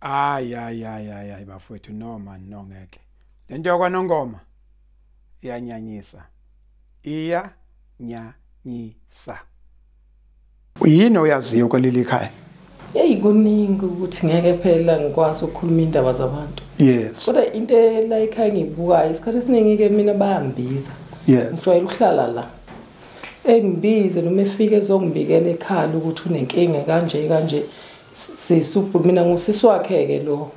Ay ay ay ay ay bafowethu no man no ngeke. Lento yakwa Nongoma iyanyanyisa. Iya nyanyisa. Uyini oyaziyo kwaleli khaya? Hey kuningi ukuthi ngeke phela ngikwazi ukukhuluma indaba zabantu. Yes. Kodwa into la ekhaya ngibukayo isikhathi esiningi ke mina bayambiza. Yes. Ngijwayele ukuhlala la. Engibize noma efike ezongibikela ekhala ukuthi unenkinga kanje kanje. sisi ubhuti mina ngusisi wakhe-ke lo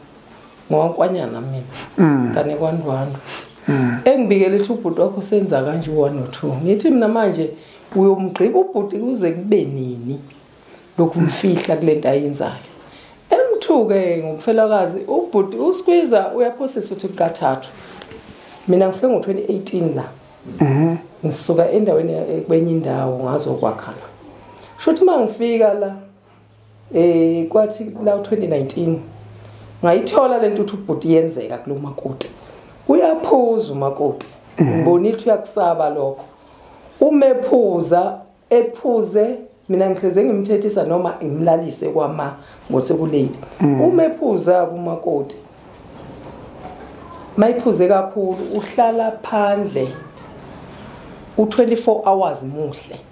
ngowankwanyana mina mm. kane kwandwandwa mm. engibikele ukuthi ubhuti wakho senza kanje u-one or two ngithi mina manje uyomgqiba ubhuti kuze kube nini lokhu mfihla kule nto ayenzayo emthuke ngumfelakazi ubhuti uskwiza uyaphosisa ukuthi kukathathu mina ngifike ngo-2018 la mhm. ngisuka endaweni kwenye indawo ngazokwakhala sho ukuthi uma ngifika la Eh kwathi la 2019 ngayithola lento ukuthi ubhuti yenzeka kulo makoti. Uyaphuza umakoti. Mhm. Ngibonile ukuthi uyakusaba lokho. Umephuza ephuze mina ngihleze ngimthethisa noma ngimlalise kwama ngosekulate. Mhm. Umephuza kumakoti. Mayiphuze kakhulu uhlala phandle u24 hours muhle.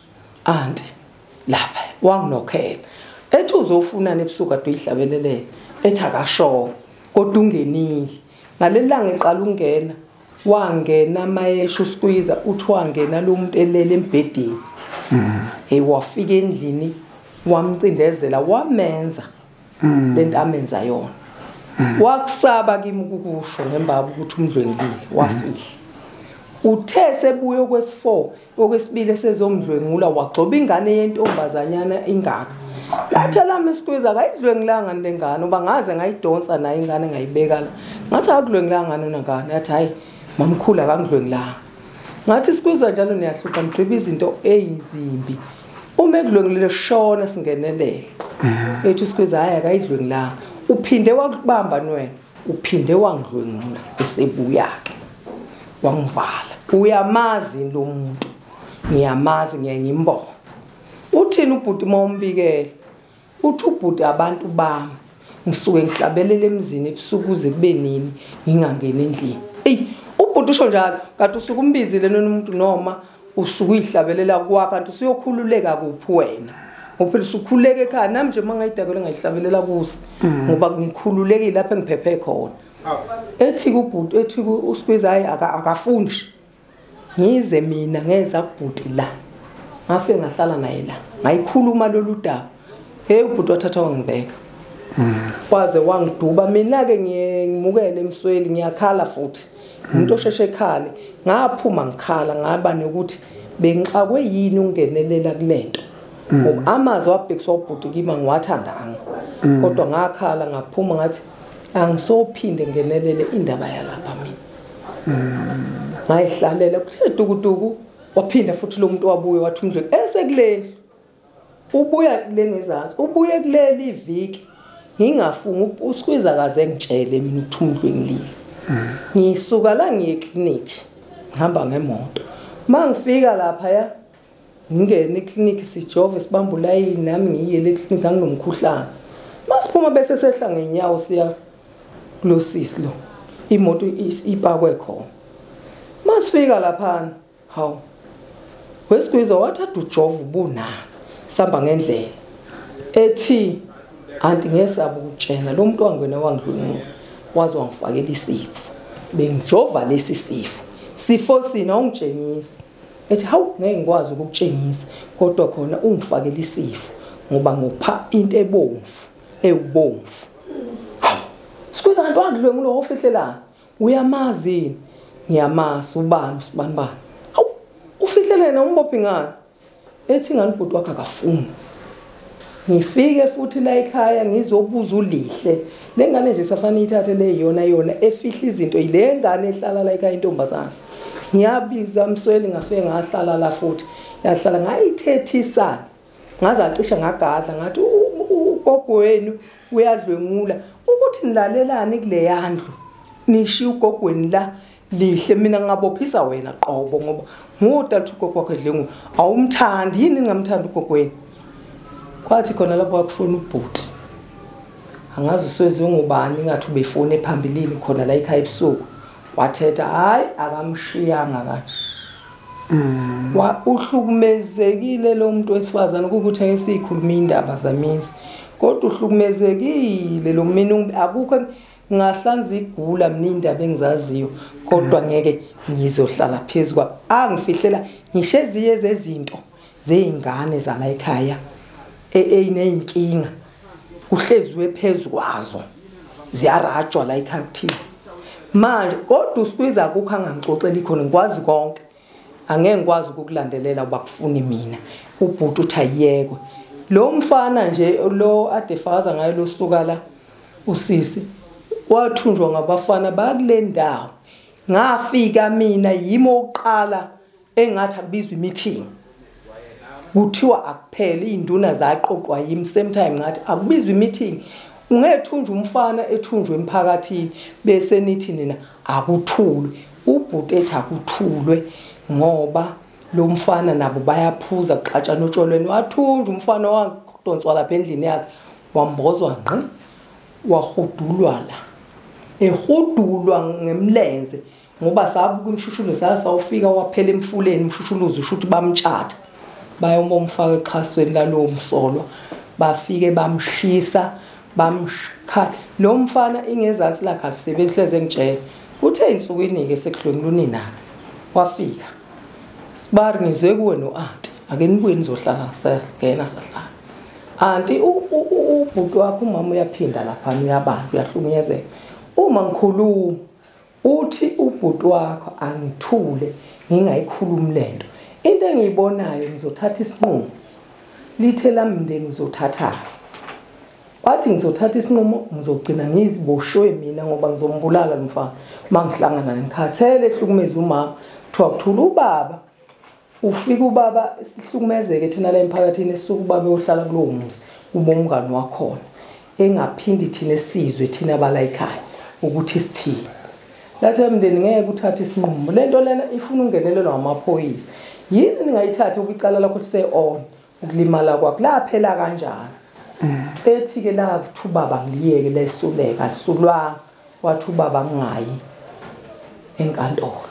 Auntie lapha wanginokhela ethi uzofunana ebusuku ade uyihlabelelele ethi akashongo kodwa ungenile ngalelanga eqala ukungena wangena mayesho uskwiza uthi wangena lo muntu elele embhedeni hey wafika endlini wamcindezela wamenza mm. lento amenza yona mm. wakusaba kimi ukukusho ngembaba ukuthi umdlwengile wafihla uthe sebuye okwesi-4 okwesibili esezomdlwengula wagcoba ingane yentombazanyana ingaka lathe lami isikwiza akayidlwengilanga le ngane uba ngaze ngayidonsa naye ingane ngayibeka la ngathi akakudlwengilanga ngane unangane yathi hhayi mamkhulu akangidlwengilanga ngathi sikwiza njalo niyahlupha nigqiba izinto eyizimbi uma ekudlwengulile shona singenelele mhm. ethi usikhweza hayi akayidlwengulanga uphinde wakubamba nwena uphinde wangidlwengula esebuya-ke wangivala uyamazi lo muntu ngiyamazi ngiye ngimbona uthini ubhuti uma umbikele Uthi ubhuti abantu bami ngisuke ngihlabelele emzini ebusuku kuze kube nini ngingangeni endlini. Ey ubhuti usho njalo kanti usuke umbizile nona umuntu noma usuke uyihlabelela kwakho kanti usuyokhululeka kuphi wena. Ngophela usukhuleke ekhaya nami nje mangayidakelwe ngayihlabelela kusi mm. ngoba ngikhululekile lapha engiphephe khona. Ethi kubhuti ethi uSqueeze hayi akafundi. ngize mina ngeza kubhuti la ngafe ngahlala naye la ngayikhuluma lolu daba hey ubhuti wathatha wangibeka kwaze wangiduba mina-ke ngimukele emsweli ngiyakhala futhi umuntu osheshe ekhale ngaphuma ngikhala ngaba nokuthi bengixakwe yini ukungenelela kule nto ngoba amazwi abhekiswa ubhuti kima ngiwathandanga kodwa ngakhala ngaphuma ngathi angisophinde ngenelele indaba yalapha mina ngayihlalela kuthe tukutuku waphinda futhi lo muntu wabuye wathi umdlweni esekuleli ubuya kule ngezansi ubuye kuleli iviki ngingafunga usikhwiza kaze ngitshele mina ukuthi umdlweni lile ngisuka la ngiye eclinic ngihamba ngemoto mangifika lapha ya ngingene eklinikhi sijove sibambe ulayini nami ngiyiyele eklinikhi anginomkhuhlane masiphuma bese sehla ngenyawo siya kulo sisi lo imoto ipakwe khona masifika laphana hawu wesigwiza wathi ade ujova ubunani sihamba ngendlela ethi anti ngesaba ukutshena lo muntu wangwena wangidlwengula waze wangifakela isifo bengijova lesi sifo sifo sina ungitshengisa ethi hawu ngeke ngikwazi ukukutshengisa kodwa khona ungifakela isifo ngoba ngopha into ebomvu ewubomvu hawu sikwenza kanti wadlwe ngulo ofihlelana uyamazi ngiyamazi ubani usibanibani hawu ufihlelena umbophi ngani ethi ngani bhuti wakhe akafuni ngifike futhi la ekhaya ngizobuza ulihle le ngane nje safanele ithathe le yona yona efihla izinto yile ngane ehlala la ekhaya intombazana ngiyabiza msweli ngafike ngahlala la futhi yahlala ngayithethisana ngaze acisha ngagadla ngathi ugogo wenu uyadlwengula ukuthi nilalelani kule yandlu nishiya ugogweni la lihle mina ngingabophisa wena qobo ngoba ngudalutha ugogo wakho edlengu awumthandi yini ningamthandi ugogweni kwathi khona lapho wakushona ubhuti angazi uswezi ungubani ingathi ubefone phambilini khona la ikhaya ebusuku wathetha hhayi akamshiyanga kanje mm. uhlukumezekile lo muntu wesifazane kukuthi engesiyikhuluma iy'ndaba zamisi kodwa uhlukumezekile lo mina akukho ngahlanza igula mina indaba engizaziyo kodwa ngeke ngizohlala phezu kwa angifihlela ngisho eziye zezinto zeyingane zala ekhaya eyineyinkinga e, kuhleziwe phezu kwazo ziyarajwa la ekhaya kuthile manje kodwa usikwiza kukho angangixoxela ikhona ngikwazi konke angeke ngikwazi ukukulandelela uba kufuni mina ubhuti uthi ayiyekwe lo mfana nje lo adefakaza ngayo losukala usisi wathunjwa ngabafana bakule ndawo ngafika mina yimi oqala engathi akubizwa imeeting kuthiwa akuphele iy'nduna zaqoqwa yimi same time ngathi akubizwa imeeting ungethunjwa umfana ethunjwe emphakathini bese nithi nina akuthulwe ubhuti ethi akuthulwe ngoba lo mfana nabo bayaphuza kuxatshana otsholweni wathunjwa umfana wadonswa lapha endlini yakhe wambozwa ngqi wahudulwala ehudulwa ngemlenze ngoba sabuka imshushuluzi sasawufika waphela emfuleni umshushuluzi usho ukuthi bamtshatha bayoma umfaka exhasweni lalowo msolwa bafike bamshisa bamshikhala lo mfana ingezansi lakhe alisebenzi hleze ngitshela uthe insukwini-ke sekudlonile uninake wafika sibari ngize kuwe no-anti ake nibuye nizohlala ngisagena sahlala anti ubhuti wakho umama uyaphinda lapha uyabantu uyahlukunyezeka uma ngikhuluma uthi ubhuti wakho angithule ngingayikhulumi lento into engiyibonayo ngizothatha isinqumo lithe lami mndeni uzothatha wathi ngizothatha isinqumo ngizogcina ngiziboshwe mina ngoba ngizombulala lomfana mangihlangana ngikhathele ehlukumeza umama kuthiwa kuthula ubaba ufike ubaba sihlukumezeke thina la emphakathini esuke ubaba eyohlala kulowo muzi uma umngani wakhona engaphindi thina sizwe thina abalayikhaya ukuthi sithini lathi emndeni ngeke uthathe isinqumo le nto lena ifuna ungenelelwa ngamaphoyisa yini ningayithatha ukwicala lakho lise-on ukulimala kwakho laphela kanjani mm. ethi-ke lathi ubaba ngiliyeke lesuleka lisulwanga wathi ubaba ngingayi enkantolo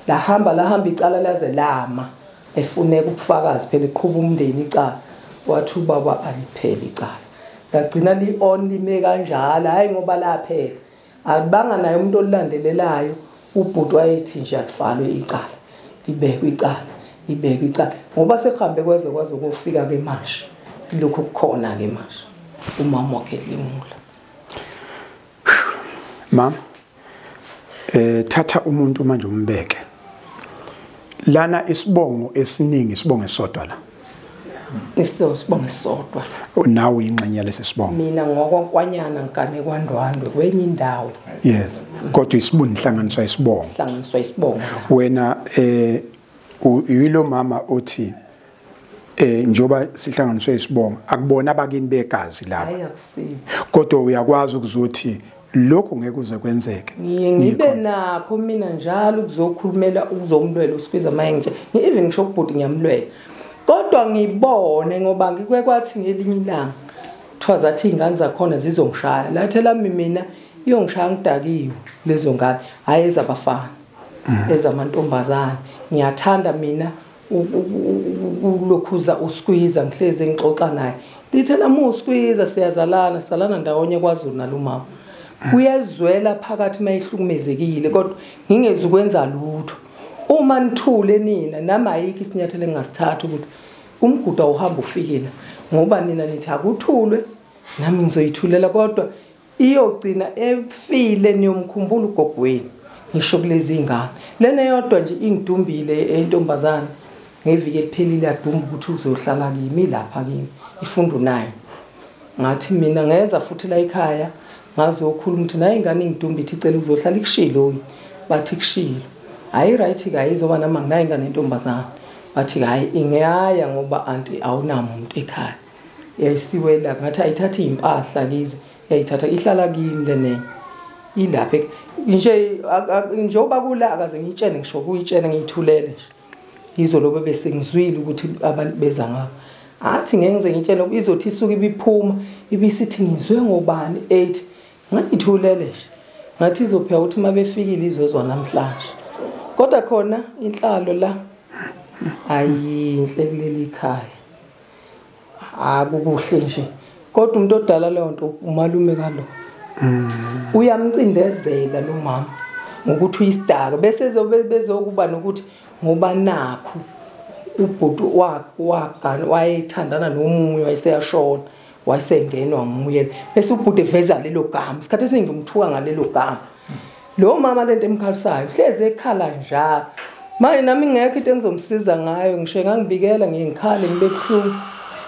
lahamba lahamba icala laze lama efuneka ubufakazi phela iqhuba umndeni icala wathi ubaba alipheli icala lagcina li-on lime kanjalo hhayi ngoba laphela Akubanga naye umuntu olulandelelayo ubhuti wayethi nje alivalwe icala libekwe icala libekwe icala ngoba sekuhambe kweze kwaze kofika ke manje lokhu kukhona ke manje umama wakhe limula mam eh thatha umuntu manje umbeke lana isibongo esiningi isibongo esodwa la Ngisizwe sibonge sodwa. Unawo ingxenye lesi sibongo. Mina ngokwankwanyana ngane kwaNdwandwe kwenye indawo. Yes. Kodwa isibuni inhlanganiswa isibongo. Inhlanganiswa isibongo. Wena eh uyilo mama othi eh njoba sihlanganiswe isibongo akubona abakini begazi laba. Kodwa uyakwazi ukuzothi lokho ngeke uze kwenzeke ngiye ngibe nakho mina njalo ukuzokhulumela ukuzomlwela usikhwiza maye ngithe ngi-even ngisho kubhuti ngiyamlwela kodwa ngibone ngoba ngikwe kwathi ngelinye ilanga kuthiwa zathi iy'ngane zakhona zizongishaya lathe lami mina iyongishaya ngidakiwe lezo ngane hhayi ezabafana mm. ezamantombazane ngiyathanda mina ukulokhuza uskwiza ngihlezi ngixoxa naye lithe nami uskwiza siyazalana salana ndawonye kwazulu nalumama kuyezwela phakathi uma ihlukumezekile kodwa ngingezi ukwenza lutho uma nithule nina nami ayikho isinyathelo engingasithatha ukuthi umgudu awuhambe ufikile ngoba nina nithi akuthulwe nami ngizoyithulela kodwa iyogcina efile niyomkhumbula ugogo wenu ngisho kulezi ngane lena yodwa nje ingidumbile entombazana ngeviki eliphelile yadumba ukuthi uzohlala kimi lapha kimi ifundu nayo ngathi mina ngeza futhi la ekhaya ngazokhuluma ukuthi naye ingane ingidumba ithi icela ukuzohlala ikushilo bathi kushilo hayi right ka izoba nama nginayo ingane entombazana bathi hayi ingeyaya ngoba anti awunamuntu ekhaya yayisiwela ngathi ayithatha iy'mpahla kize yayithatha ihlala kimi le nenye ilapha nje njengoba kula akaze ngiyitshene ngisho kuyitshene ngiyithulele nje yizolo bebe sengizwile ukuthi abantu beza ngabo athi ngeke ngize ngitshene izothi isuke ibiphuma ibisithi ngizwe ngobani 8 ngangithulele nje ngathi izopheka ukuthi uma befikile izozwa namhlanje kodwa khona inhlalo la ayinhle kuleli khaya akukuhle nje kodwa umuntu odala leyo nto umalume kalo mm. uyamcindezela lo mama ngokuthi uyisidaka bese bezokuba nokuthi ngoba nakho ubhuti wagana wayethandana nomunye wayeseyashona wasengenwa nguye bese ubhuti eveza lelo gama isikhathi esiningi umthuka ngalelo gama lo mama lento emkhalisayo hlezi ekhala njalo manje nami ngekho into engizomsiza ngayo ngisho ngangibikela ngiyikhale ngibe buhlungu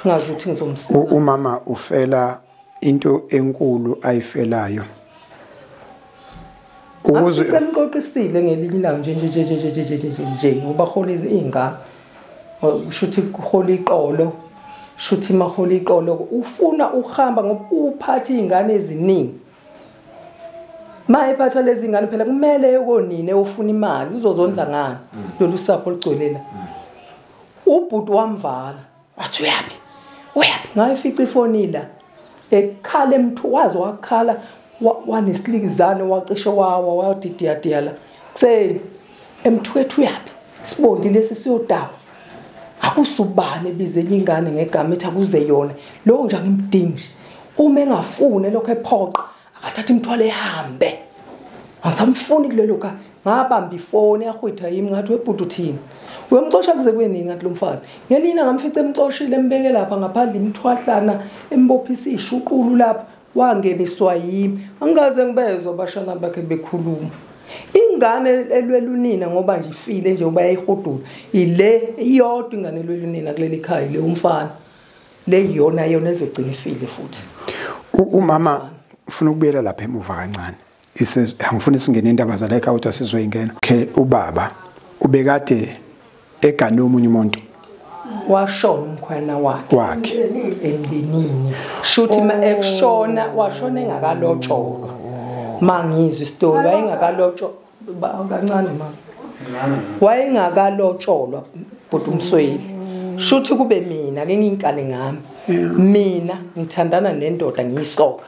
ngazi ukuthi ngizomsiza umama ufela into enkulu ayifelayo ukuze semqoqisile ngelinye ilanga nje nje nje nje nje nje nje nje ngoba hola izingane ushuthi hola iqolo shuthi mahola iqolo ufuna uhamba ngoba uphatha izingane eziningi maye phatha lezi ngane phela kumele yokonine ufuna imali uzozondla ngani lolu sapho ligcwelela ubhuti wamvala wathi uyaphi uyaphi ngayifica ifoni la ekhala emthu waze wakhala wanesilikizane wacishe wawa wadidiyadiya la kuseni emthwethu uyaphi sibondi lesi siyodawa akusubani ebize enye ingane ngegama ethi akuze yona lowo nje angimdingi uma engafune lokho ephoqa akathatha imithwalo ehambe angisamfuni kulelo ka ngabamba ifoni yahwitha yimi ngathi webhuti uthini uyomcosha kuze kwenini ngathi lo mfazi ngelina ngamfica emcoshile embeke lapha ngaphandle imthwahlana embophisa ishuqulu lapha wangeniswa yimi angikaze ngibezwa abashana bakhe bekhuluma ingane elwela unina ngoba nje ifile nje uba yayihudula ile iyodwa ingane elwela unina kuleli khaya le umfana le yona yona ezogcina ifile futhi umama ufuna ukubuyela lapha emuva kancane angifuni isingene indaba zala ekhaya ukuthi asizoyingena okay ubaba ubekade egane omunye umuntu washona umkhwana wakhe wakhe emndenini shuthi ma ekushona washona engakalotsholwa mangizwe isitori wayengakalotsholwa kancane ma wayengakalotsholwa bhuti umsweli shuthi kube mina ke ngingikale ngami mina ngithandana nendoda ngiyisoka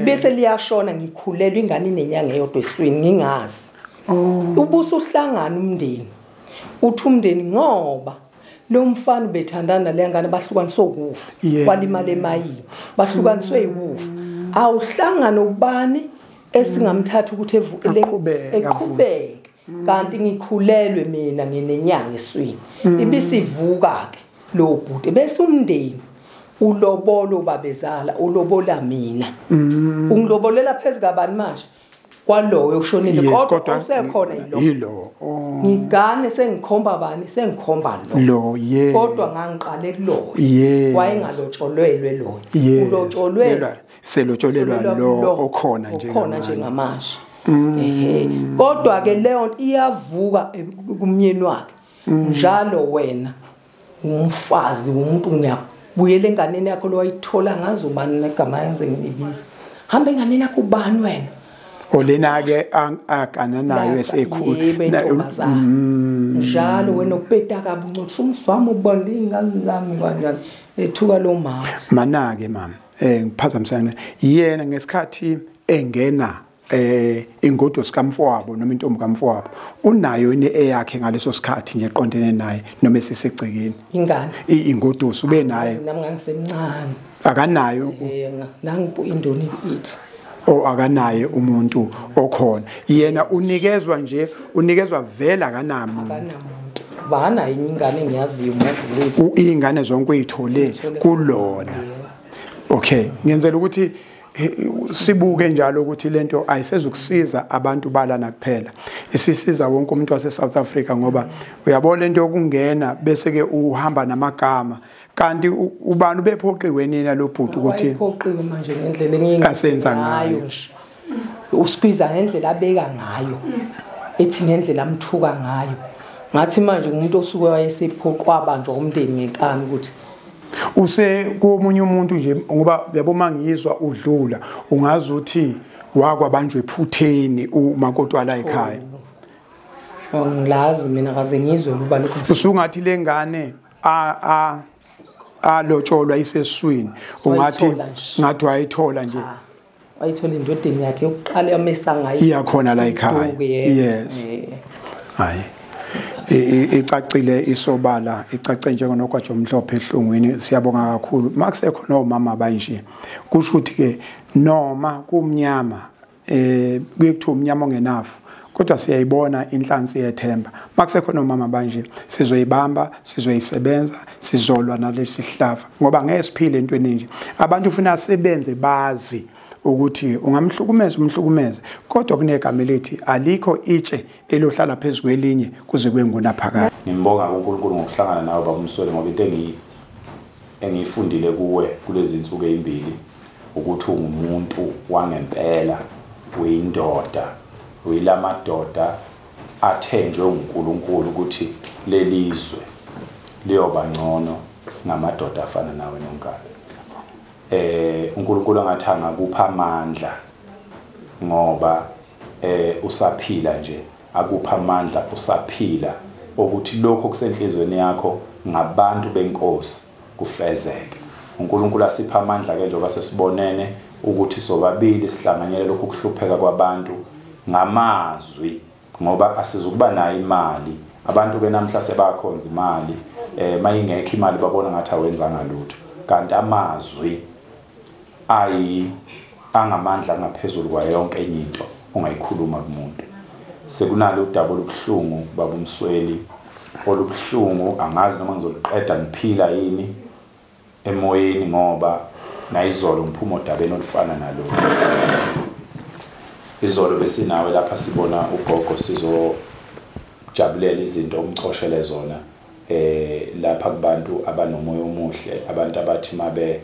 bese liyashona ngikhulelwa ingane inenyanga eyodwa eswini ngingazi oh. ubuso uhlangana umndeni uthi umndeni ngoba lo mfana ubethandana le ngane bahlukaniswe ukufa kwalimala emayini bahlukaniswe iwufa awuhlangana ubani esingamthatha ukuthi evukele eqhubeke kanti ngikhulelwe mina nginenyanga eswini mm. ibisivuka ke lo bhuti bese umndeni ulobolo babezala ulobola mina mm. ungilobolela phezulu kabani manje kwaloyo ushonile kodwa usekhona yilo oh. ngigane sengikhomba bani sengikhomba lo lo ye kodwa ngangiqale kuloyo wayengalotshwelwe lona ulotsholwe selotsholelwa lo okhona nje okhona njengamanje mm. ehe kodwa ke leyo nto iyavuka eh, kumnyeni wakhe mm. njalo wena umfazi umuntu ngiyabuyela enganeni yakho lo wayithola ngazo bani negama yenze ngibiza hamba enganeni yakho ubani wena olena ke agana nayo esekhulu mm. njalo wena upeta kabuncu umfama ubonda ingane zami kanjani ethuka lo mama manake mama eh ngiphazamisana yena ngesikhathi engena eh ingodo sikamfowabo noma intombi kamfowabo unayo ine eyakhe ngaleso sikhathi nje eqondene naye noma esisegcekeni ingane ingodo ube naye nami ngangisemncane akanayo eh, nangu indoni ithi o akanaye umuntu okhona yena unikezwa nje unikezwa vele akanamuntu akanamuntu banayo ingane ngiyaziyo ngiyazilisa ingane zonke uyithole kulona okay ngenzela ukuthi sibuke njalo ukuthi lento ayisezukusiza abantu balana kuphela isisiza wonke umuntu wase South Africa ngoba uyabona lento yokungena bese ke uhamba namagama kanti ubani ubephoqiwe nina lo bhuti ukuthi iphoqiwe manje ngendlela engingi asenza ngayo nje uskwiza ngendlela abeka ngayo ethi ngendlela amthuka ngayo ngathi manje umuntu osuke wayesephoqwa abantu omndeni ngenkani ukuthi use komunye umuntu nje ngoba yabo mangizwa udlula ungazi uthi wakwabanjwe ephutheni umakotwala ekhaya ngilazi mina kaze ngizwe ukuba lokho usungathi lengane a a alotsholwa iseswini ungathi ngathi wayithola nje ah, wayithola indodeni yakhe yokuqala yamesa ngayo iyakhona la ekhaya yes hayi icacile isobala icace njengonogwaja omhlophe ehlungwini siyabonga kakhulu makusekhona omama banje kusho ukuthi ke noma kumnyama eh kuye kuthiwa umnyama ongenafu kodwa siyayibona inhlansi yethemba makusekhona omama banje sizoyibamba sizoyisebenza sizolwa nalesi sihlava ngoba ngeke siphile entweni nje abantu ufuna sebenze bazi ukuthi ungamhlukumeza umhlukumeze kodwa kunegama elithi alikho itshe elohlala phezu kwelinye kuze kwengunaphakade ngimbonga kuNkulunkulu ngokuhlangana nawe babumswele ngoba into engiyi Engiyifundile kuwe kulezi nsuku ezimbili ukuthi ungumuntu wangempela, uyindoda, uyilamadoda athenjwe uNkulunkulu ukuthi lelizwe liyoba ngcono ngamadoda afana nawe nonkana. Eh uNkulunkulu angathi angakupha amandla ngoba eh usaphila nje Akuphe amandla usaphila okuthi lokho okusenhlizweni yakho ngabantu benkosi kufezeke. UNkulunkulu asiphe amandla ke njengoba sesibonene ukuthi sobabili sihlanganyele lokhu kuhlupheka kwabantu ngamazwi ngoba asizukuba nayo imali abantu ke namhla sebakhonza imali eh mayingekho imali babona ngathi awenzanga lutho kanti amazwi ayi angamandla angaphezulu kwayo yonke enye into ongayikhuluma kumuntu sekunalo udaba olubuhlungu baba umsweli olubuhlungu angazi noma ngizoliqeda ngiphila yini emoyeni ngoba nayizolo ngiphuma odabeni olufana nalolu izolo besinawe lapha sibona ugogo sizojabulela izinto omcoshele zona eh lapha kubantu abanomoya omuhle abantu abathi mabe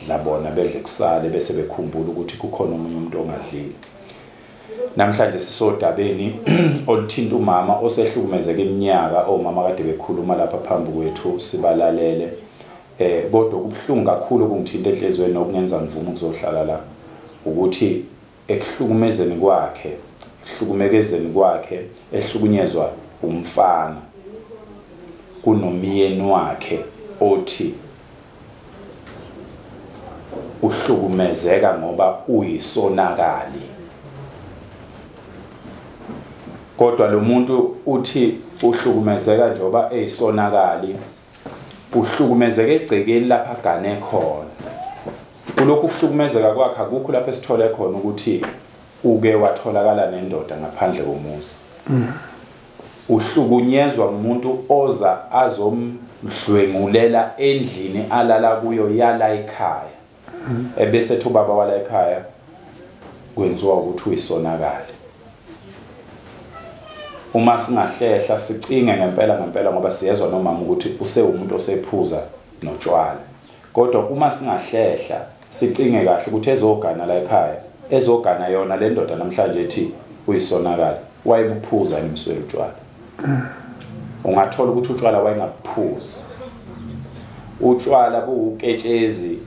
dla bona bedle kusale bese bekhumbula ukuthi kukhona omunye umuntu ongadlile namhlanje sisodabeni oluthinta umama osehlukumezeka iminyaka omama kade bekhuluma lapha phambi kwethu sibalalele eh kodwa kubuhlungu kakhulu kungithinta enhlizweni nokungenza ngivume ukuzohlala la ukuthi ekuhlukumezeni kwakhe ekuhlukumekezeni kwakhe ehlukunyezwa umfana kunomyeni wakhe othi uhlukumezeka ngoba uyisonakali kodwa lo muntu uthi uhlukumezeka njengoba eyisonakali uhlukumezeke egcekeni lapha agane khona kulokhu kuhlukumezeka kwakhe akukho lapho esithole khona ukuthi uke watholakala nendoda ngaphandle komuzi uhlukunyezwa umuntu oza azomdlwengulela endlini alala kuyo yala ekhaya ebese thubaba wala ekhaya kwenziwa ukuthi uyisonakali uma singahlehla sicinge ngempela ngempela ngoba siyezwa nomama ukuthi usewumuntu osephuza notshwala kodwa uma singahlehla sicinge kahle ukuthi ezogana la ekhaya ezogana yona le ndoda namhlanje ethi uyisonakala wayebuphuza yini msweli utshwala ungathola ukuthi utshwala wayengabuphuzi utshwala buwuketshezi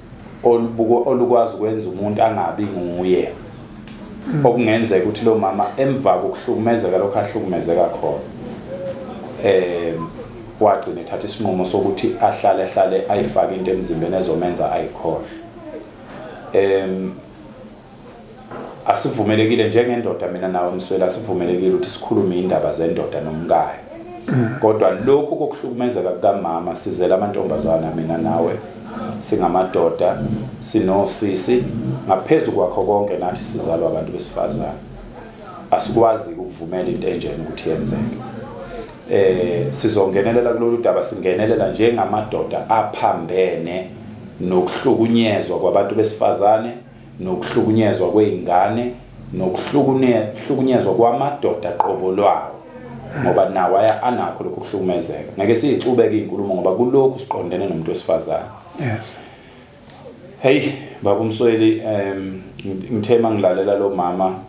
olukwazi ukwenza umuntu angabi nguye okungenzeka ukuthi lo mama emva kokuhlukumezeka lokho ahlukumezeka khona eh wagcina ethatha isinqumo sokuthi ahlale ahlale ayifake into emzimbeni ezomenza ayikhohle em asivumelekile njengendoda mina nawe mswela asivumelekile ukuthi sikhulume indaba zendoda nomkayo kodwa lokhu kokuhlukumezeka kukamama sizela amantombazana mina nawe singamadoda sinosisi ngaphezu kwakho konke nathi sizalwa abantu besifazane asikwazi ukuvumela into enjena ukuthi yenzeke eh sizongenelela kulolu daba singenelela njengamadoda aphambene nokuhlukunyezwa kwabantu besifazane nokuhlukunyezwa kwey'ngane nokuhlukunyezwa kwamadoda qobo lwawo ngoba nawo anakho lokhu kuhlukumezeka ngeke siyixubeke iy'nkulumo ngoba kulokhu siqondene nomuntu wesifazane yes heyi baba umsweli um ngithe uma ngilalela lo mama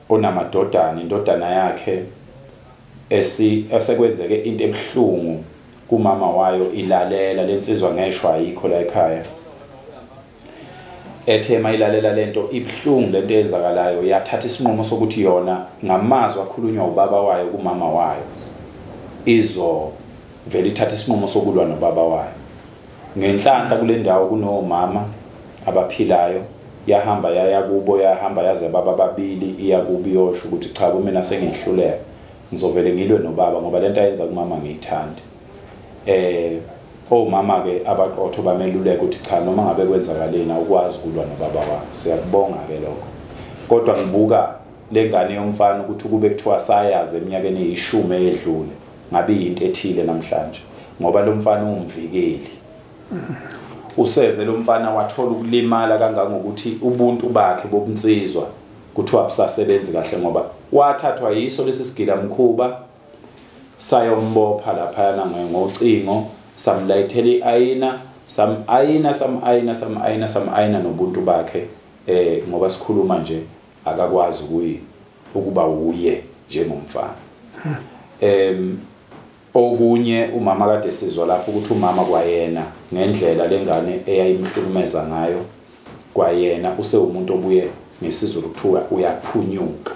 onamadodana indodana yakhe esekwenzeke into ebuhlungu kumama wayo ilalela lensizwa ngeshwa ayikho la ekhaya ethe mayilalela lento ibuhlungu lento eyenzakalayo yathatha isinqumo sokuthi yona ngamazwi akhulunywa ubaba wayo kumama wayo izo vele ithatha isinqumo sokulwa nobaba wayo ngenhlanhla kule ndawo kunomama abaphilayo yahamba yaya kubo yahamba yaze baba babili iya kubi yosho ukuthi cha kumina sengihluleka ngizovele ngilwe nobaba ngoba lento ayenza kumama ngiyithandi eh Omama ke abaqotho bameluleka ukuthi cha noma ngabe kwenzakaleni awukwazi ukulwa nobaba wakho. Siyakubonga ke lokho. Kodwa ngibuka lengane yomfana ukuthi ukube kuthiwa sayazi eminyakeni eyishumi eyedlule ngabe yinto ethile namhlanje ngoba lo mfana uwumvikeli. Useze lo mfana wathola ukulimala kangangokuthi ubuntu bakhe bobunsizwa kuthiwa busasebenzi kahle ngoba wathathwa yiso lesi sigila mkhuba sayombopha laphayana ngocingo samlayithela i-ayina sam-ayina sam-ayina sam-ayina sam-ayina nobuntu bakhe eh ngoba sikhuluma nje akakwazi kuyi ukuba wuye njengomfana em okunye umama kade sizwa lapho ukuthi umama kwayena ngendlela lengane eyayimhlukumeza ngayo kwayena usewumuntu obuye ngesizulu kuthiwa uyaphunyuka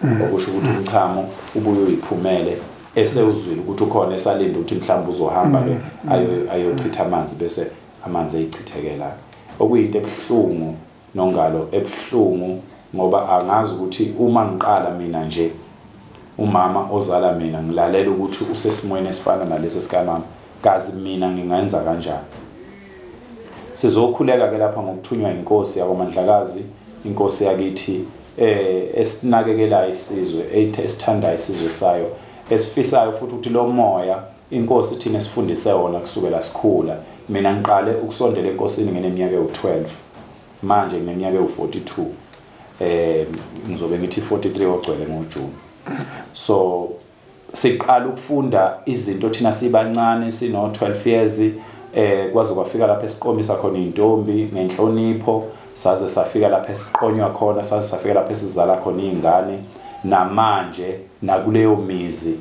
mm. okusho ukuthi umchamo ubuye uyiphumele esewuzwile ukuthi ukhona esalinde ukuthi mhlawumbe uzohamba ke mm. ayochitha amanzi bese amanzi eyichithekela okuyinto ebuhlungu nongalo ebuhlungu ngoba angazi ukuthi uma ngiqala mina nje umama ozala mina ngilalela ukuthi usesimweni esifana nalesi sikamama Kazi mina ngingenza kanjani? Sizokhuleka ke lapha ngokuthunywa inkosi yakwaMandlakazi, inkosi yakithi eh esinakekelayo isizwe, esithandayo isizwe sayo, esifisayo futhi ukuthi lo moya inkosi thina sifundise wona kusukela sikhula. Mina ngiqale ukusondela enkosini ngineminyaka ewu12. Manje ngineminyaka ewu42. Eh ngizobe ngithi 43 ogcwele ngoJune. So siqala ukufunda izinto thina sibancane sino 12 years eh kwaze kwafika lapha esiqomisa khona intombi ngenhlonipho saze safika lapha esiqonywa khona saze safika lapha esizala khona izingane namanje nakuleyo mizi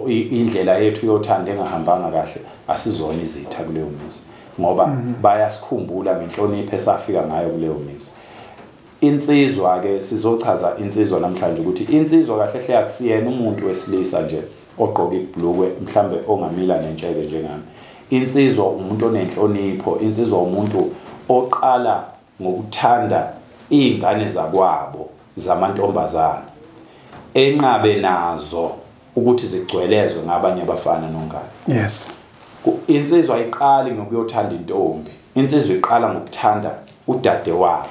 indlela yethu yothanda engahambanga kahle asizona izitha kuleyo mizi ngoba mhm. bayasikhumbula ngenhlonipho esafika ngayo kuleyo mizi Insizwa ke sizochaza insizwa namhlanje ukuthi insizwa kahle hle akusiyena umuntu wesilisa nje ogqoka ibhlukwe mhlambe ongamila nentsheke njengami. Insizwa umuntu onenhlonipho, insizwa umuntu oqala ngokuthanda izingane zakwabo zamantombazana enqabe nazo ukuthi zigcwelezwe ngabanye abafana nongane yes insizwa iqali ngokuyothanda intombi insizwa iqala ngokuthanda udade wabo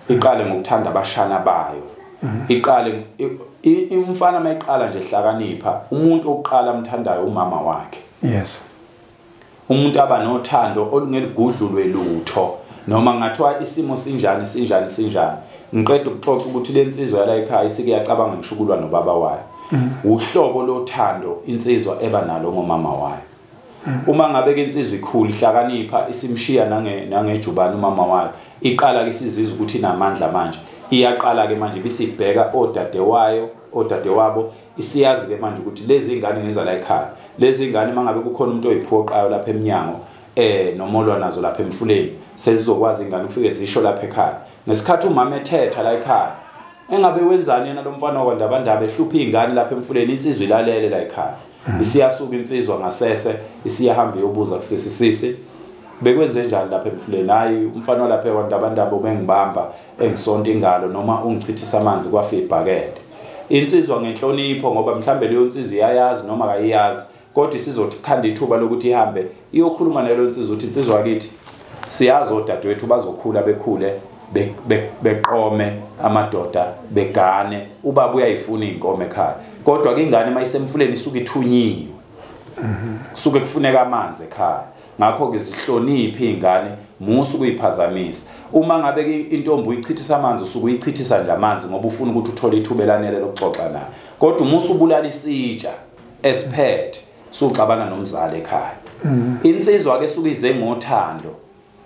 iqale ngokuthanda abashana bayo mhm. iqale umfana mayiqala nje hlakanipha umuntu oqala amthandayo umama wakhe yes umuntu aba nothando olungeligudlulwe lutho noma ngathiwa isimo sinjani sinjani sinjani ngiqeda ukuxoxa ukuthi le nsizwa yala ekhaya isike yacabanga ngisho ukulwa nobaba wayo mm. uhlobo lothando insizwa eba nalo ngomama wayo mm. uma ngabe ke insizwa ikhulu ihlakanipha isimshiya nange nangejubana umama wayo iqala ke sizizwa ukuthi inamandla manje iyaqala ke manje bisibheka odade wayo odade wabo isiyazi ke manje ukuthi lezi ingane ngiza la ekhaya lezi ingane mangabe kukhona umuntu oyiphoqayo lapha eminyango eh nomolwa nazo lapha emfuleni sezizokwazi ingane ufike zisho lapha ekhaya ngesikhathi umama ethetha la ekhaya engabe wenzani yena lomfana wakwandabandaba ehlupha izingane lapha emfuleni insizwa ilalele la ekhaya mm. isiyasuka insizwa ngasese isiyahamba iyobuza kusisi sisi bekwenze njani lapha emfuleni hayi umfana walapha ekwandabandaba ubengibamba engisonta ingalo noma ungichithisa amanzi kwafa ibhakede insizwa ngenhlonipho ngoba mhlambe leyo nsizwa iyayazi noma kayiyazi kodwa isizothi khanda ithuba lokuthi ihambe iyokhuluma nalo nsizwa ukuthi insizwa yakithi siyazi odadewethu bazokhula bekhule beqome amadoda begane ubaba uyayifuna iy'nkomo ekhaya kodwa ke ingane uma isemfuleni isuke ithunyiwe kusuke kufuneka amanzi ekhaya ngakho-ke zihloniphe iy'ngane musa ukuyiphazamisa uma ngabe intombi uyichithisa amanzi usuke uyichithisa nje amanzi ngoba ufuna ukuthi uthole ithuba elanele lokuxoxa nayo kodwa umusa ubulala isitsha esiphethe suxabana nomzali ekhaya mm. insizwa-ke suke ize ngothando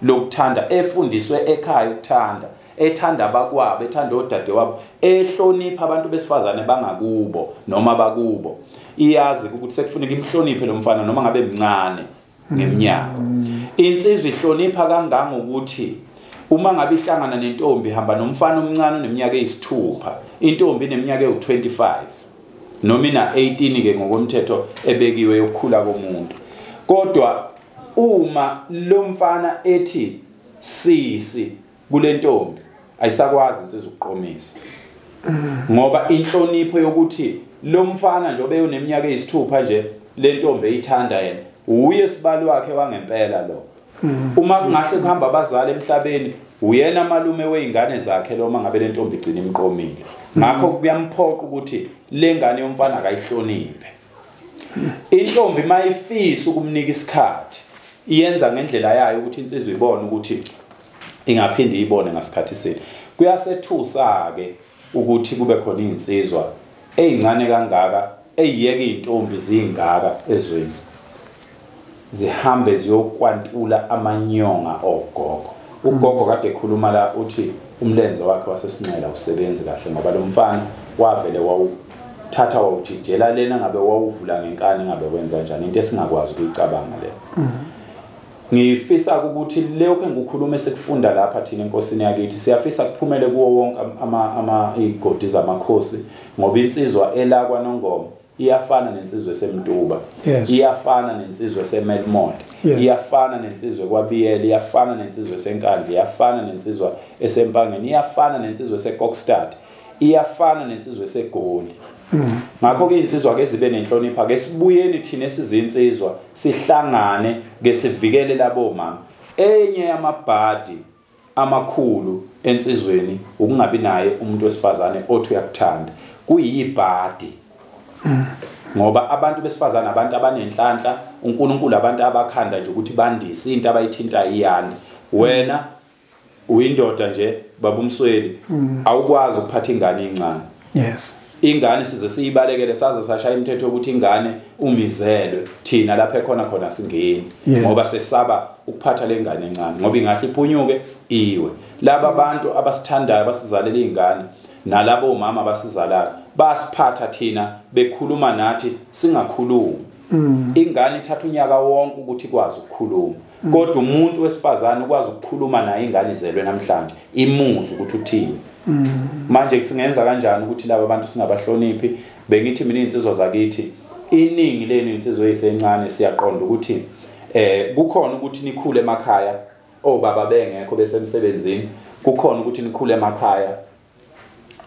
lokuthanda efundiswe ekhaya ukuthanda ethanda abakwabo ethanda odadewabo ehlonipha abantu besifazane bangakubo noma bakubo iyazi ukuthi sekufuneka imhloniphe lo mfana noma ngabe mncane ngeminyaka mm. insizwa ihlonipha kangangokuthi uma ngabe ihlangana nentombi hamba nomfana omncane oneminyaka eyisithupha intombi ineminyaka ewu-25 noma ina-18-ke ngokomthetho ebekiwe yokukhula komuntu kodwa uma lo mfana ethi sisi kulentombi ayisakwazi insizwa ukuqomisa ngoba inhlonipho yokuthi lo mfana nje obeyoneminyaka eyisithupha nje le ntombi eyithanda yena uye sibali wakhe wangempela lo mm. uma kungahle kuhamba abazali emhlabeni uyena malume weingane zakhe lo mangabe le ntombi igcina imqomile mm. ngakho kuyamphoqa ukuthi le ngane yomfana akayihloniphe intombi mayifisa ukumnika isikhathi iyenza ngendlela yayo ukuthi insizwa ibone ukuthi ingaphinde iyibone ngasikhathi sini kuyasethusa-ke ukuthi kube khona iy'nsizwa ey'ncane kangaka ey'yeka iy'ntombi ziyingaka ezweni zihambe ziyokwantula amanyonga ogogo ugogo kade ekhuluma la uthi umlenze wakhe wasesinxela usebenzi kahle ngoba lo mfana wavele wawuthatha wawujijela lena ngabe wawuvula ngenkani ngabe wenza njani into esingakwazi ukuyicabanga leyo mm -hmm. Ngifisa ukuthi lokho engikukhuluma esikufunda lapha thina enkosini yakithi siyafisa kuphumele kuwo wonke ama ama igodi zamakhosi ngoba insizwa elakwa nongoma iyafana nensizwe semduba yes. iyafana nensizwe semelmond yes. iyafana nensizwe kwabiyela iyafana nensizwe senkandla iyafana nensizwa esempangeni iyafana nensizwe secockstad iyafana nensizwa esegoli mm. ngakho ke insizwa ke zibe nenhlonipha ke sibuyeni thina esizinsizwa sihlangane ke sivikele labo mama enye yamabhadi amakhulu ensizweni ukungabi naye umuntu wesifazane othi uyakuthanda kuyibhadi mm. ngoba abantu besifazane abantu abanenhlanhla uNkulunkulu abantu abakhanda nje ukuthi bandise into abayithinta iyande wena uyindoda nje baba umsweli mm. awukwazi ukuphatha ingane incane yes ingane size siyibalekele saze sashaya imithetho yokuthi ingane umizelwe thina lapha ekhona khona singeni ngoba sesaba ukuphatha lengane encane ngoba ingahle iphunyuke iwe laba abantu abasithandayo basizalela izingane nalabo omama abasizalayo basiphatha thina bekhuluma nathi singakhulumi mm. ingane ithatha unyaka wonke ukuthi ikwazi ukukhuluma kodwa umuntu wesifazane ukwazi ukukhuluma naye ingane izelwe namhlanje imuzwe ukuthi uthini mm. manje singenza kanjani ukuthi laba bantu singabahloniphi bengithi mina insizwa zakithi iningi lenu insizwe esencane siyaqonda ukuthi eh kukhona ukuthi nikhule emakhaya obaba bengekho besemsebenzini kukhona ukuthi nikhule emakhaya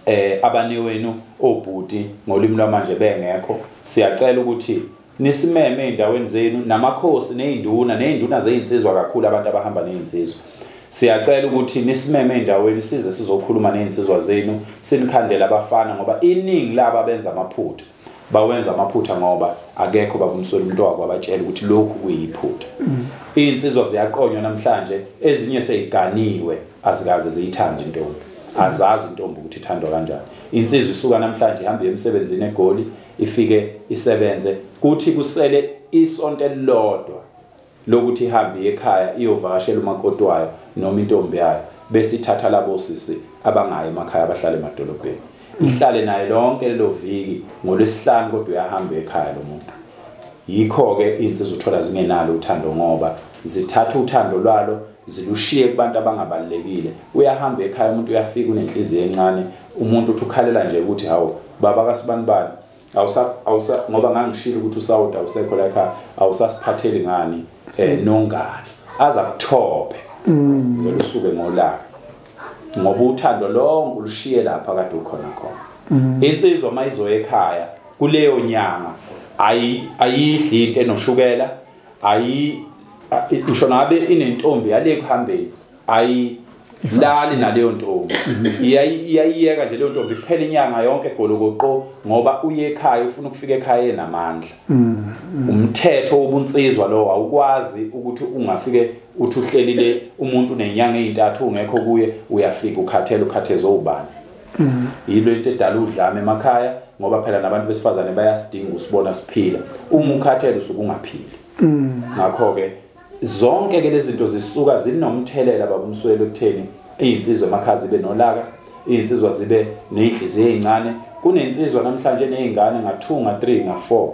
eh abanewenu obhuti ngolimi lwamanje bengekho siyacela ukuthi nisimeme endaweni zenu namakhosi nezinduna nezinduna zezinsizwa kakhulu abantu abahamba nezinsizwa siyacela ukuthi nisimeme endaweni size sizokhuluma nezinsizwa zenu sinikhandele abafana ngoba iningi laba benza amaphutha bawenza amaphutha ngoba akekho babumswela umuntu wako abatshela ukuthi lokhu kuyiphutha mm. iy'nsizwa ziyaqonywa namhlanje ezinye seyiganiwe azikaze ziyithande intombi azazi intombi ukuthi ithandwa kanjani insizwa isuka namhlanje ihambe emsebenzini egoli ifike isebenze kuthi kusele isonto elilodwa lokuthi ihambe ekhaya iyovakashela umakoti wayo noma intombi yayo bese ithatha labo sisi abangayo emakhaya abahlala emadolobheni ihlale naye lonke lelo viki ngolwesihlanu kodwa uyahamba ekhaya lo muntu yikho-ke iy'nsizwa uthola zingenalo uthando ngoba zithatha uthando lwalo zilushiye kubantu abangabalulekile uyahamba ekhaya umuntu uyafika unenhliziyo encane umuntu uthi ukhalela nje ukuthi hawu baba kasibanibani awusa awusa ngoba ngangishilo ukuthi usawuda awusekho la ekhaya awusasiphatheli ngani eh mm. nongani aza kuthophe mm. vele usuke ngolaka ngoba uthando lonke ulushiye lapha kade ukhona khona mm. insizwa mayizoya ekhaya kuleyo nyanga ayi ayidli into enoshukela ayi ngisho ngabe inentombi yale kuhambeni ayi lali naleyo ntombi iyayiyeka nje leyo ntombi kuphela inyanga yonke egolokoqo ngoba uye ekhaya ufuna ukufika ekhaya enamandla mm, mm. umthetho wobunsizwa lowo awukwazi ukuthi ungafike uthi uhlelile umuntu nenyanga ezintathu ungekho kuye uyafika ukhathele ukhathezwe ubani mm. yilo into edala udlame emakhaya ngoba phela nabantu besifazane bayasidinga usibona siphila uma ukhathele usuke ungaphili ngakho ke Zonke ke lezinto zisuka zinomthelela babumswelo ekutheni izinsizwa emakhazi be nolaka, izinsizwa zibe nezinhliziyo ezincane, kunensizwa namhlanje nezingane nga 2 nga 3 nga 4.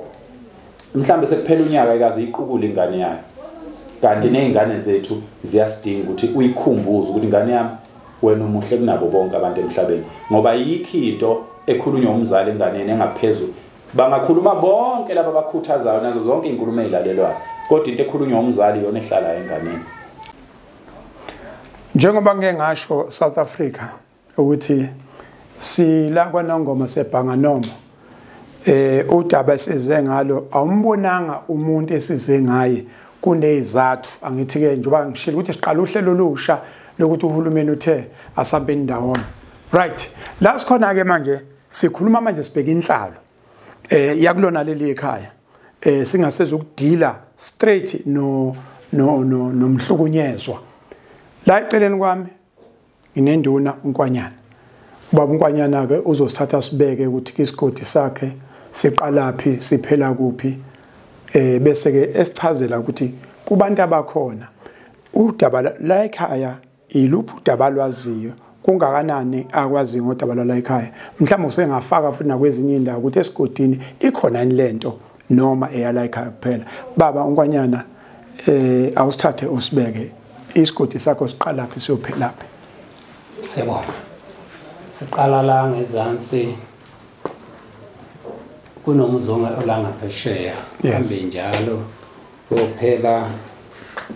Mhlambe sekuphela unyaka ikaze iqukule ingane yayo. Kanti nezingane zethu ziyasidinga ukuthi uyikhumbuze ukuthi ingane yami wena umuhle kunabo bonke abantu emhlabeni ngoba yikho into ekhulunywa umzali enganeni engaphezulu Bangakhuluma bonke laba abakhuthazayo nazo zonke izinkulumo ezilalelwayo, kodwa into ekhulunywa umzali yona ehlala enganeni. Njengoba ngeke ngasho South Africa ukuthi sila kwanongoma sebhanga noma eh udaba esize ngalo awumbonanga umuntu esize ngaye kunezathu angithi ke njengoba ngishilo ukuthi siqala uhlelo olusha lokuthi uhulumeni uthe asambe indawona right la sikhona ke manje sikhuluma manje sibheke inhlalo eh yakulona leli ekhaya eh singaseza ukudila straight no no no nomhlukunyezwa la eceleni kwami nginenduna unkwanyana ubaba unkwanyana ke uzosithatha sibeke ukuthi isigodi sakhe siqalaphi siphela kuphi eh bese ke esichazela ukuthi kubantu abakhona udaba la ekhaya Yiluphi udaba alwaziyo? Kungakanani akwaziyo ngodaba lwala ekhaya? Mhlawumbe usengafaka futhi nakwezinye indawo ukuthi esigodini ikhona yini lento noma eyala ekhaya kuphela. Baba unkwanyana eh awusithathe usibeke isigodi sakho siqalaphi siyophelaphi. Siyabonga. Siqala la ngezansi kunomuzonga olangaphesheya. Yes. Njalo. Kuphela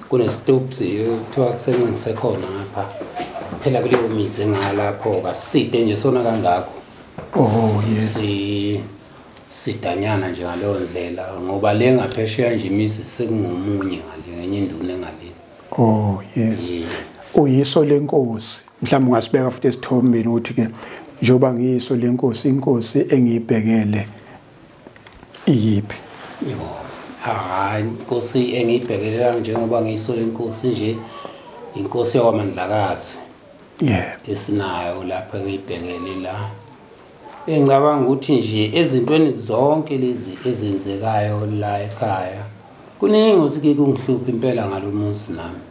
kunestubs kuthiwa kusencinise khona ngapha. Phela kuleyo mizi engalapho kaside nje sona kangakho. Oh yes. Si sidanyana nje ngaleyo ndlela ngoba le ngaphesheya nje imizi sekungomunye ngale ngenye induna engale. Oh yes. Yeah. Uyiso lenkosi. Mhlawumbe ungasibeka futhi esithombeni ukuthi ke njengoba ngiyiso lenkosi inkosi engiyibhekele iyiphi yebo hayi inkosi engiyibhekelela njengoba ngiyisole inkosi nje inkosi yakwamandlakazi yeah esinayo lapha engiyibhekele la engicabanga ukuthi nje ezintweni zonke lezi ezenzekayo la ekhaya kuningi osike kungihlupha impela ngalomuzi nami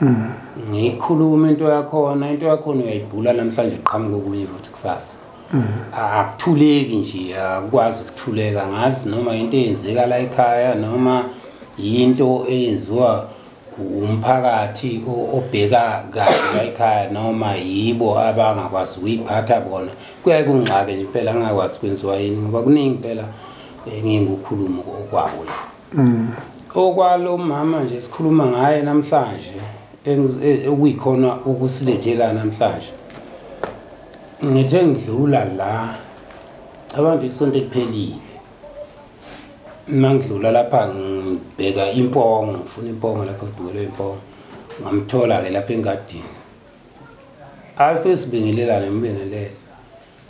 mm. ngikhuluma into yakhona into yakhona uyayibhula namhlanje qhamuka okunye futhi kusasa mm. akuthuleki nje akwazi ukuthuleka ngazi noma into eyenzeka la ekhaya noma yinto eyenziwa umphakathi obheka kahle la ekhaya noma yibo abangakwazi ukuyiphatha bona kuyaye kungxake nje impela angakwazi kwenziwa yini ngoba kuningi impela eh, ngingukhulumo okwabo la mm. okwalo mama nje sikhuluma ngaye namhlanje e, okuyikhona ukusilethela namhlanje ngithe ngidlula la abantu isonto eliphelile mangidlula lapha ngibheka impongo ngifuna impongo lapha kudukelwe impongo ngamthola-ke lapha engadini afe sibingelelane ngibingelele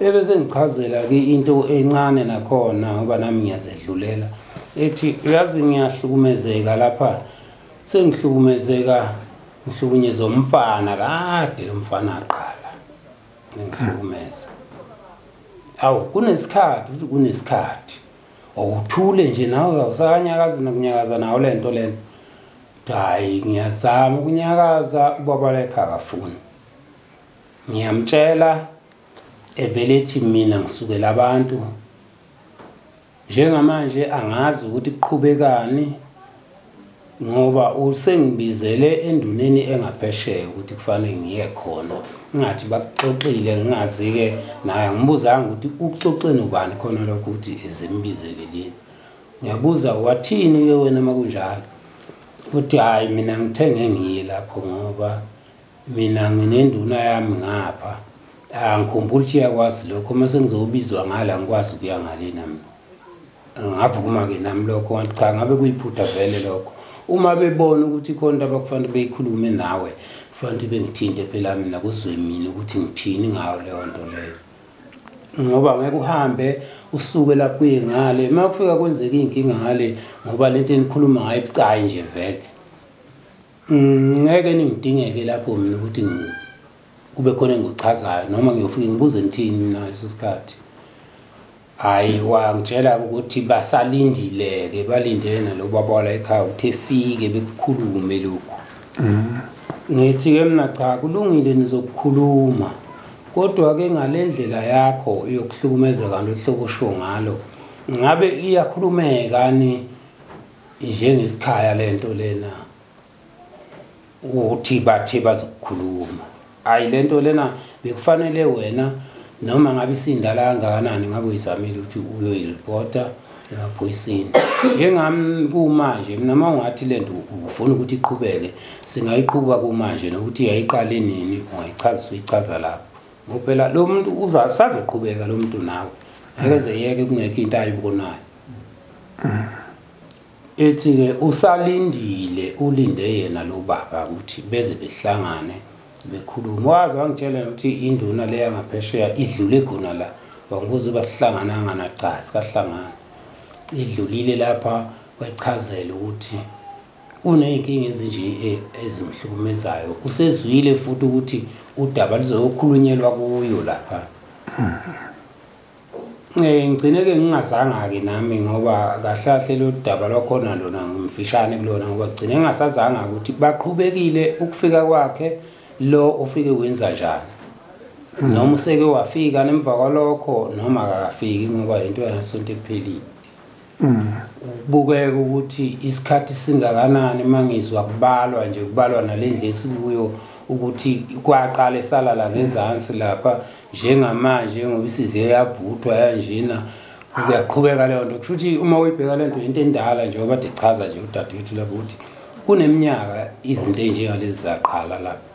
Bebe sengichazela ke into encane nakhona ngoba nami ngiyazedlulela ethi uyazi ngiyahlukumezeka lapha sengihlukumezeka ngihlukunyezwa umfana kade lo mfana aqala ngihlukumeza awu kunesikhathi uthi kunesikhathi awuthule nje nawe awusakanyakazi nokunyakaza nawo le nto lena hayi ngiyazama ukunyakaza ubaba lekhe akafuni ngiyamtshela evele ethi mina ngisukela abantu njengamanje angazi ukuthi kuqhubekani ngoba usengibizele enduneni engaphesheya ukuthi kufanele ngiye khona ngathi bakuxoxile ngingazi-ke naye ngibuzanga ukuthi ukuxoxeni ubani khona lokho ukuthi zimbizelelini ngiyabuza wathini-ke wena uma kunjalo uthi hhayi mina ngithenge ngiye lapho ngoba mina nginenduna yami ngapha angikhumbula ukuthi iyakwazi lokho uma sengizobizwa ngala ngikwazi ukuya ngalena mina ngavuma-ke nami lokho wathi cha ngabe kuyiphutha vele lokho uma bebona ukuthi khona into abakufanele beyikhulume nawe kufanele ukuthi bengithinte phela mina kuzwe mina ukuthi ngithini ngayo leyo nto leyo ngoba ngeke uhambe usuke lapho kuye ngale uma kufika kwenzeka iy'nkinga ngale ngoba le nto enikhuluma ngayo ibucayi nje vele Mm, ngeke ningidingeke lapho mina ukuthi kube khona engikuchazayo noma ngiyofike ngibuze ngithini mina ngaleso sikhathi hhayi wangitshela ukuthi basalindile-ke balindele nalo baba wala ekhaya ukuthi efike bekukhulume lokhu mm. ngithi-ke mina cha kulungile nizokukhuluma kodwa-ke ngale ndlela yakho yokuhlukumezeka nto hlobo osho ngalo ngabe iyakhulumekani njengesikhaya lento lena ukuthi bathe bazokukhuluma hayi lento lena bekufanele wena noma ngabe isindala kangakanani ngabe uyizamile ukuthi uyoyiripota emaphoyiseni njengami kumanje mina uma ungathi le nto ufuna ukuthi iqhubeke singayiqhuba kumanje nokuthi yayiqale nini ungayichaza uyichaza lapho ngoba phela lo muntu usazoqhubeka lo muntu nawe akeze yeke kungekho into ayibkonayo ethi-ke usalindile ulinde yena lo baba ukuthi beze behlangane bekhulume waze wangitshela ukuthi induna le yangaphesheya idlule khona la wangibuza uba sihlangananga nacha sikahlangana idlulile lapha kwechazela ukuthi uney'nkinga ezinje eh, ezimhlukumezayo usezwile futhi ukuthi udaba lizoyokhulunyelwa kuyo lapha um ngigcine-ke ngingazanga-ke nami ngoba kahlahle lolu daba lwakhona lona ngimfishane kulona ngoba kugcine ngingasazanga ukuthi baqhubekile ukufika kwakhe lo ufike wenza njani hmm. noma useke wafika nemva kwalokho noma akakafiki ngoba yinto yanasonto ekuphelile mm. kubukeka ukuthi isikhathi singakanani uma ngizwa kubalwa nje kubalwa nale ndlela esikuyo ukuthi kwaqala esalala ngezansi lapha njengamanje ngoba isize yavuthwa yanjena kuyaqhubeka leyo nto kusho ukuthi uma uyibheka le nto yinto endala nje obade chaza nje udadewethu lapho ukuthi kuneminyaka izinto ey'njengalezi zaqala lapha